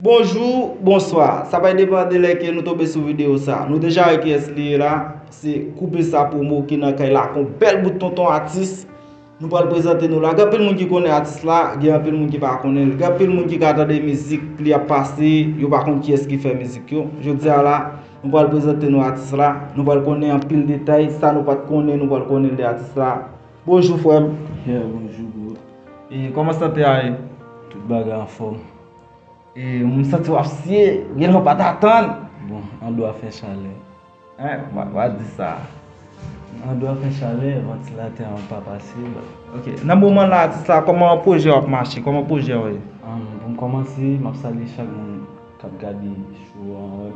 Bonjou, bonswa. Sa bay depan de lè ke nou tonbe sou video sa. Nou deja wè kiyès li ye la. Se Koupe Sa Promo ki nan kay la ak yon bèl bout tonton atis. Nou pral prezante nou la. Gen anpil moun ki konnen atis la, gen anpil moun ki pa konnen l. Gen anpil moun ki ka tande mizik li ap pase, yo pa konn kiyès ki fè mizik yo. Jodi a la, nou pral prezante nou atis la. Nou pral konnen anpil detay. Sa nou pat konnen, nou pral konnen l de atis la. Bonjou frè m. Yè, bonjou bro. E kòman sante a ye? Tout bagay anfòm. M santi wap siye, gen lè w pat atann. Bon, an dwa fè chalè. Hein, wa di sa. An dwa fè chalè, vantilatè an pa pase. Ok, nan moman la atis la, kòman pwojè w ap mache, kòman pwojè w ye? Pou m kòmanse, m ap salye chak moun k ap gade show an.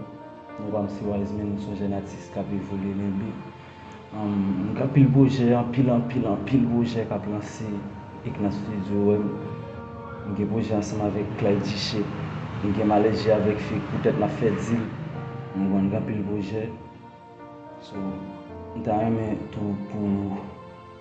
Nou pa m se Wiseman, m s on jèn atis k ap evolye limbe. Gen anpil pwojè, anpil, anpil, anpil pwojè k ap lanse Eknans Studio. Nou gen pwojè ansanm avèk Clyde Jichè. Nou gen Malèje avèk Fik poutèt n ap fè dil. Nou konn gen anpil pwojè. So, m ta renmen tou pou.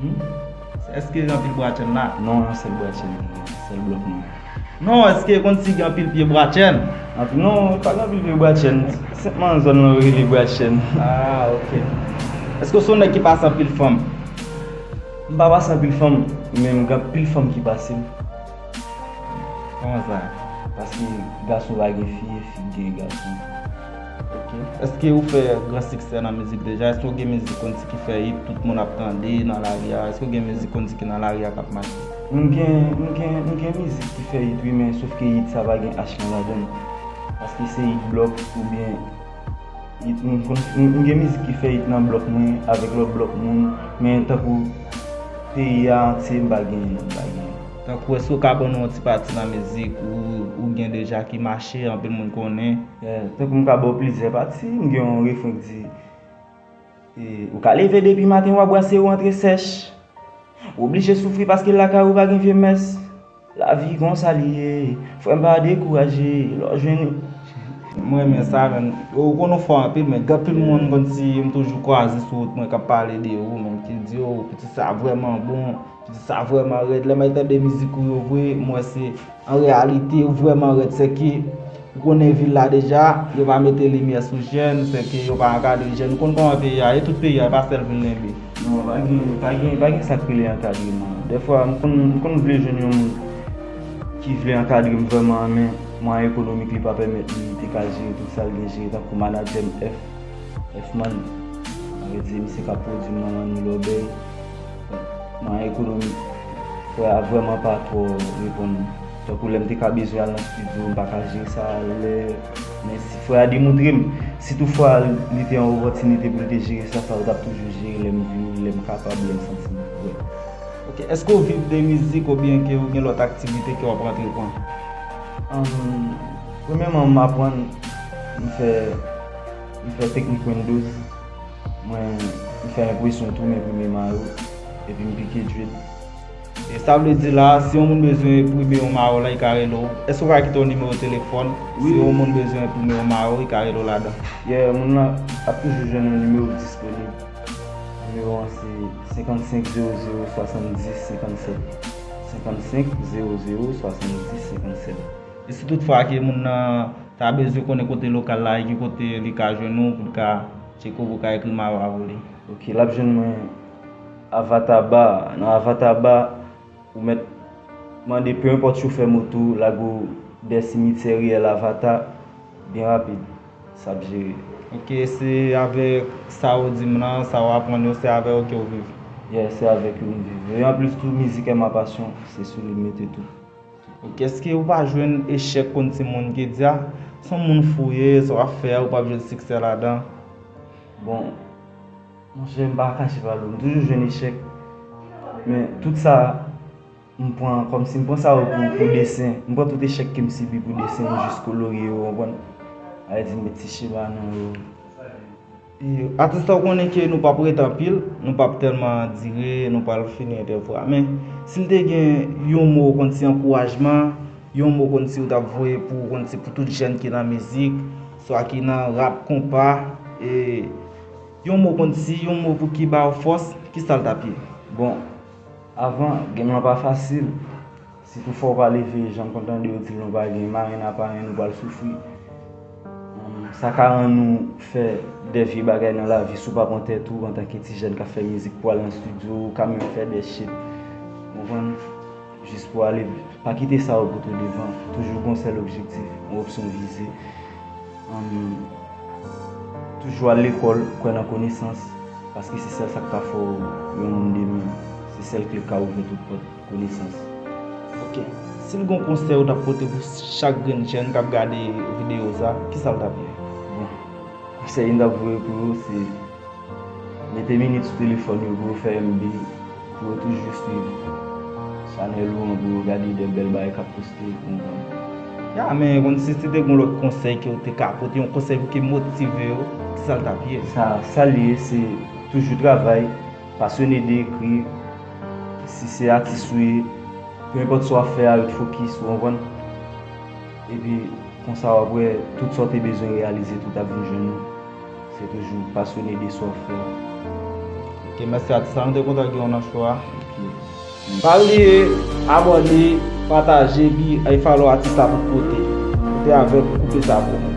Humm eske gen anpil bwa chèn la? Non yon sèl bwa chèn ki genyen, sèl blòk mwen an. Non eske konn si gen anpil pye bwa chèn? Anpil non pa gen anpil pye bwa chèn, senpman zòn lan yo rele bwa chèn. Aa ok. Eske w se yon nèg ki pase anpil fanm? M pa pase anpil fanm men gen anpil fanm ki pase m. Kòman sa? Paske gason pa gen fi e fi ki gen gason. Eske ou fè gran siksè nan mizik deja? Eske ou gen mizik kon di ki fè it tout moun ap tande nan lari a? Eske ou gen mizik kon di ki nan lari a kap mache? M gen mizik ki fè it wi men sof ke it sa pa gen achiv ladan l. Paske se it blòk oubyen it moun konn fè. M gen mizik ki fè it nan blòk mwen avèk lòt blòk moun men tankou peyi a antye m pa gen. Tankou eske ou ka ban nou yon ti pati nan mizik ou gen deja ki mache anpil moun konnen? Tankou m ka ba w plizyè pati, m gen yon refren ki di, Ou ka leve depi maten w a bwase ou antre sèch Ou oblije soufri paske lakay ou pa gen vye mès Lavi konsa li ye, frè m pa dekouraje lè w jwenn yon M renmen sa men, ou konn ou fò anpil men gen anpil moun konn si m toujou kwaze sou wout mwen k ap pale de ou men ki di o pitit sa vrèman bon Sa vreman red le may tande mizik ou yo vre mwen se an realite ou vreman red se ke ou konnen vil la deja yo pa mete limye sou jen se ke yo pa ankadre jen ou konnen koman peyi a ye tout peyi a e pa sel vil lenbe. Non pa gen pa gen pa gen sak rele ankadreman defwa m konn m konn vle jwenn yon moun ki vle ankadre m vreman an men mwayen ekonomik li pa pemet li te ka jere tout sal gen jere tankou manager m F F man an vle di misye kap pwodwi m nan manni lòbèy. Nan ekonomi, frè a vrèman pa twò reponn mwen. Tankou lè m te ka bezwen al nan stidyo, m pa ka jere sa alè. Men si frè a demontre m, si tou fwa li te yon opòtinite pou l te jere sa, sa l t ap toujou jere lè m vini, lè m kapab, lè m santi m prè. Ok, èske w viv de mizik oubyen ke ou gen lòt aktivite ke w ap antreprann? Premyèman m aprann, m fè, m fè teknik Windows. Mwen m fè enpresyon tou m enprime mayo epi m pike drip. E sa vle di la si yon moun bezwen enprime yon mayo la li ka rele w? Èske ou ka kite yon nimewo telefòn si yon moun bezwen enprime yon mayo li ka rele w ladan? Yeah moun lan ap toujou jwenn yon nimewo disponib. Nimewo an se 55 00 70 57. 55 00 70 57. E si tout fwa ke moun nan ta bezwen konnen kote lokal la e ki kote li ka jwenn ou pou li ka tcheke w pou ka ekri mayo avè w li? Ok, lap jwenn mwen Avatar Bar a. Nan Avatar Bar, ou mèt mande peu importe chofè moto lago w dè simityè riyèl Avatar, byen rapid, sa ap jere. Ok, e se avèk sa ou di m lan, sa ou aprann yo, se avè yo ke ou viv? Yeah, se avèk yo m viv. E anplis tou, mizik è ma pasyon, se sou li m mete tout. Ok eske ou pa jwenn echèk konn ti moun ki di a son moun fou ou ye sa wap fè a ou pap jwenn siksè ladan bon monchè m pa kache ba nou m toujou jwenn echèk men tout sa m pran kòm si m pran sa yo pou desen m pran tout echèk ke m sibi pou desen jis kolorye yo ou konprann m pa vle di m met ti chema nan yo. Atis la ou konnen ke nou pap ret anpil, nou pap tèlman dire, nou pral fini entèvyou a. Men, si m te gen yon mo konn si ankourajman, yon mo konn si ou tap voye pou konn si pou tout jèn ki nan mizik, swa ki nan rap, konpa, e yon mo konn si, yon mo pou ki ba ou fòs, ki sa l tap ye? Bon, avan, game lan pa fasil. Si tou fò pa leve jan m konn tande yo di l nou pa gen marenn aparenn nou pral soufri. Sa ka rann ou fè de vye bagay nan lavi si w pa pran tèt ou antanke ti jèn k ap fè mizik pou al nan stidyo ou ka menm fè de shit ou konprann jis pou ale pa kite sa yo pote w devan toujou gen yon sèl objektif yon opsyon vize toujou al lekòl kwè nan konesans paske se sèl sa k ka fè w yon moun demen se sèl kle k ka ouvè tout pòt. konesans. Ok, sil gon konsèy ou tap pote pou chak grenn jèn kap gade videyo sa, kisa l tap ye? Bon, konsèy m tap voye pou yo se, mete minit sou telefòn yo pou yo fè MB, pou yo toujou swiv chanèl ou an pou yo gade de bèl bagay kap poste, ou konprann. Ya, men konn si se te gon lòt konsèy ke ou te ka pote, yon konsèy pou ke motive yo, kisa l tap ye? Sa l ye se toujou travay. Pasyone de ekri, si se atis ou ye, pe enpòt sa w ap fè a, yo t fokis, ou konprann? Epi konsa w ap wè tout sa w te bezwen reyalize tout ap vin jwenn ou, se toujou pasyone de sa w fè a. Ok mèsi atis la, nou te kontan gen w nan show a. Ok. Pa bliye abòne, pataje epi al follow atis la pou kote. Rete avèk nou koupe sa pou mwen.